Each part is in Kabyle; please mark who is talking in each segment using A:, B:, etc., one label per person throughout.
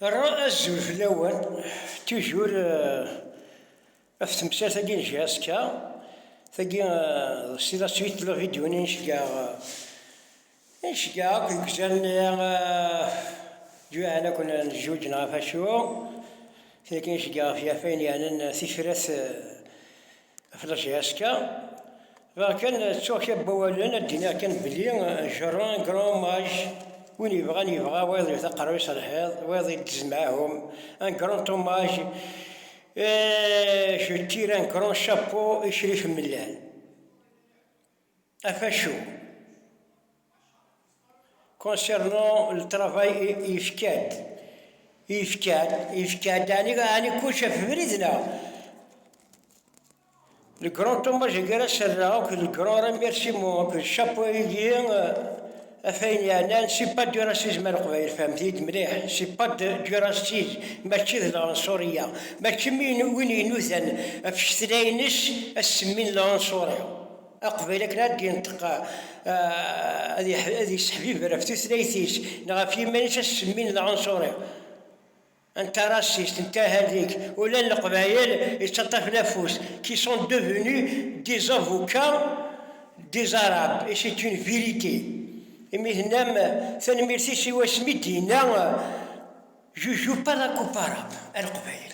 A: Rra azul fell-awen, tujur ɣef temsalt-agi n JSK. Tagi s la suite de la vidéo n inceggeɛ inceggeɛ akk deg uzal-nni juɛen akk n jjuǧ neɣ ɣef acu? Tagi inceggeɛ ɣef yaf ayen yeɛnan tifrat Xlas Yaska, bɣiɣ kan ttuɣ kra n wawalen ad d-iniɣ kan belli Jeron grand maj, win yebɣan yebɣa, wayeḍ yewwet aqerru-is ar lḥiḍ, wayeḍ iddez meɛhum, un grand hommage et je tire un grand chapeau i Crif Mellal. Afacu. Concernant le travail yefka-d. Yefka-d, yefka-d, ɛni ɛni kullec ɣef ubrid neɣ? Le grand hommage agi ara s-rreɣ akked le grand remerciement akked chapeau agi ɣef ayen yeɛnan c'est pas du racisme a Leqbayel fehmet-iyi-d mliḥ c'est pas du racisme mačči d lɛenṣuriya mačči win inudan ɣef cetla-ines ad s-semmin lɛenṣuri. Aqbayli akken ad d-yenṭeq, ad yesseḥbiber ɣef tutlayt-is neɣ ɣef yiman-is ad s-semmin d aɛunṣuri, anta raciste, anta ahallik, ula n Leqbayel yettaṭṭafen afus, qui sont devenus des avocats des Arabes et c'est une vérité. Imi tennam tanemmirt-is i wasmi d-yenna Je joue pas la coupe arabe à Leqbayel.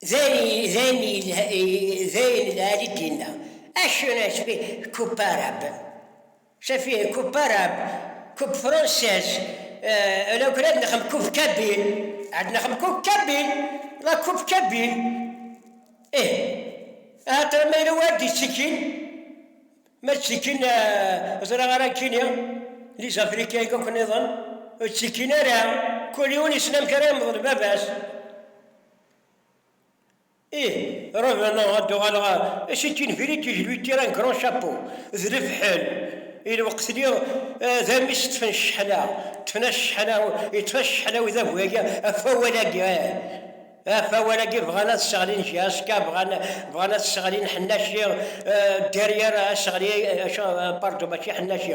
A: Dayen lɛali d-yenna, Acu i tbi Coupe Arabe? Ça fait Coupe Arabe, Coupe Française, alors ad nexdem Coupe Kabyle, ad nexdem Coupe Kabyle, la Coupe Kabyle. Ih, axaṭer ma yella win d-ittekkin, ma ttekkin ẓriɣ ara nekkini, les Africains akk-nniḍen, ur ttekkin ara, kul yiwen yessen amek ara yemḍel baba-s. Ih, revenant, ad d-uɣaleɣ ɣer si Tinvilit, je lui tire un grand chapeau, d lefḥel i lweqt-nni, d amis ṭṭfen cceḥna, ṭṭfen-as cceḥna, yeṭṭef-as cceḥna udabu-agi, ɣef wawal-agi, ih, ɣef wawal-agi, bɣan ad sseɣlin JSK, bɣan, bɣan ad sseɣlin Ḥennaci, derrière ad sseɣli, acu, pardon, mačči Ḥennaci.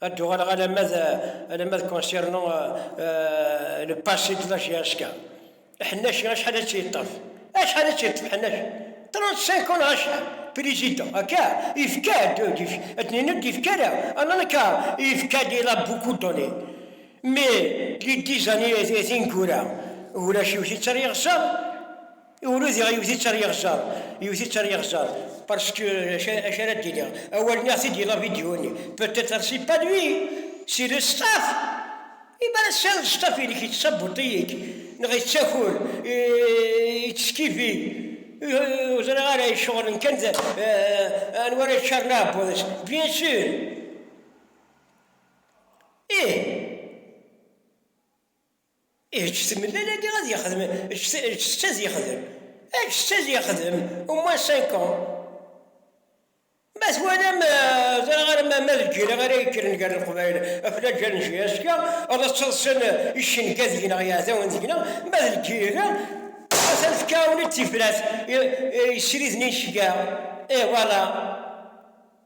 A: Ad d-uɣaleɣ alamma d alamma d concernant euh, le passé de la GSK. Ḥennaci acḥal ad tt-yeṭṭef? Acḥal ad tt-yeṭṭef Ḥennaci? 35 ans neɣ acḥal? Président, akka, yefka-d, ad d-nini ur d-yefka ara, alors akka, yefka-d il a beaucoup donné. Mais les dix années tineggura, ulac yiwet i ttaryeɣ sa, Ur diɣ yewwet-itt ar yeɣzer, yewwet-itt ar yeɣzer, parce que acu ara d-iniɣ, awal-nni ad ɣ-t-id-yini avidyu-nni, peut-être c'est pas lui, c'est le staff! I mi ara tesɛiḍ staff-inek yeţţabuṭ-iyi-k, neɣ yeţţakur, yeţţeskifi, ur ẓriɣ ara, iceɣlen kan d anwa ara iččaren aɛebbuḍ-is, bien sûr! Ih! Eǧǧ-t mellalani ad yexdem, eǧǧ-t ad yexdem, eǧǧ-t ad yexdem au moins cinq ans. Ma twalam ẓriɣ arma ma d lǧil-a ara yekkren gar Leqbayel ɣef laǧal n JSK, ad ttaḍsan icenga deg-neɣ, yiɛdawen deg-neɣ, ma d lǧil-a atan fkan-awen-d tifrat yesriden icenga. Et voilà.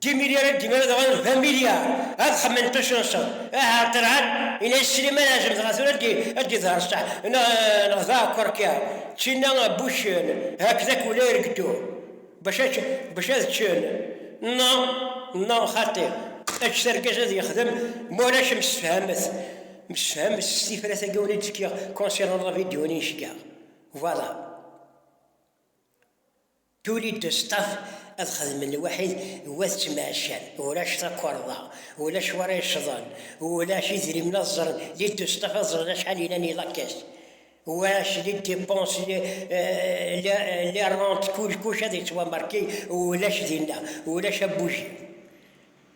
A: Dimilya ara d-iman ad ɣaden d amilya, ad xemmen tucunṣeḍ, aha ar ṭirɛan, ina i Sliman azem dɣa tura ad d-iḍher ṣṣeḥ, neɣ d aɛekkwerkya, ččina buccen, hakdak ula irgeddu, bac ad ččen, na, na, xaṭi, eǧǧet argaz ad yexdem, ma ulac msefhamet, msefhamet s tifrat-agi ula d-fkiɣ concernant la vidéo-nni i cekkaɣ, voilà. Tuli-d ustaf ad xedmen lwaḥid n wat ttemɛeccan, ulac takerḍa, ulac wara yecḍen, ulac idrimen ad ẓren, les d ustaf ad ẓren acḥal yellan i la caisse, ulac les dépenses, les rentes, kullkuc ad yettwamarki, ulac dinna, ulac abujid.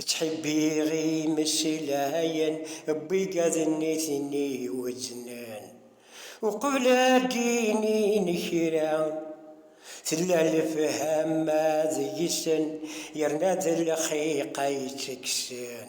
A: Ttḥibbiɣ imesslayen n wigaden-nni iwezznen. Uqbel ad d-inin kra, tella lefhama deg-sen yerna d lxiq ay ttekksen.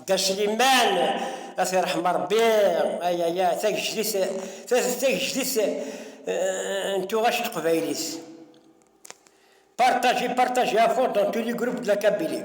A: Dda Sliman, ad t-irḥem Rebbi, ay ay ay, tagejdit, tagejdit n tuɣac teqbaylit. Partagez, partagez à fond dans tous les groupes de la Kabylie.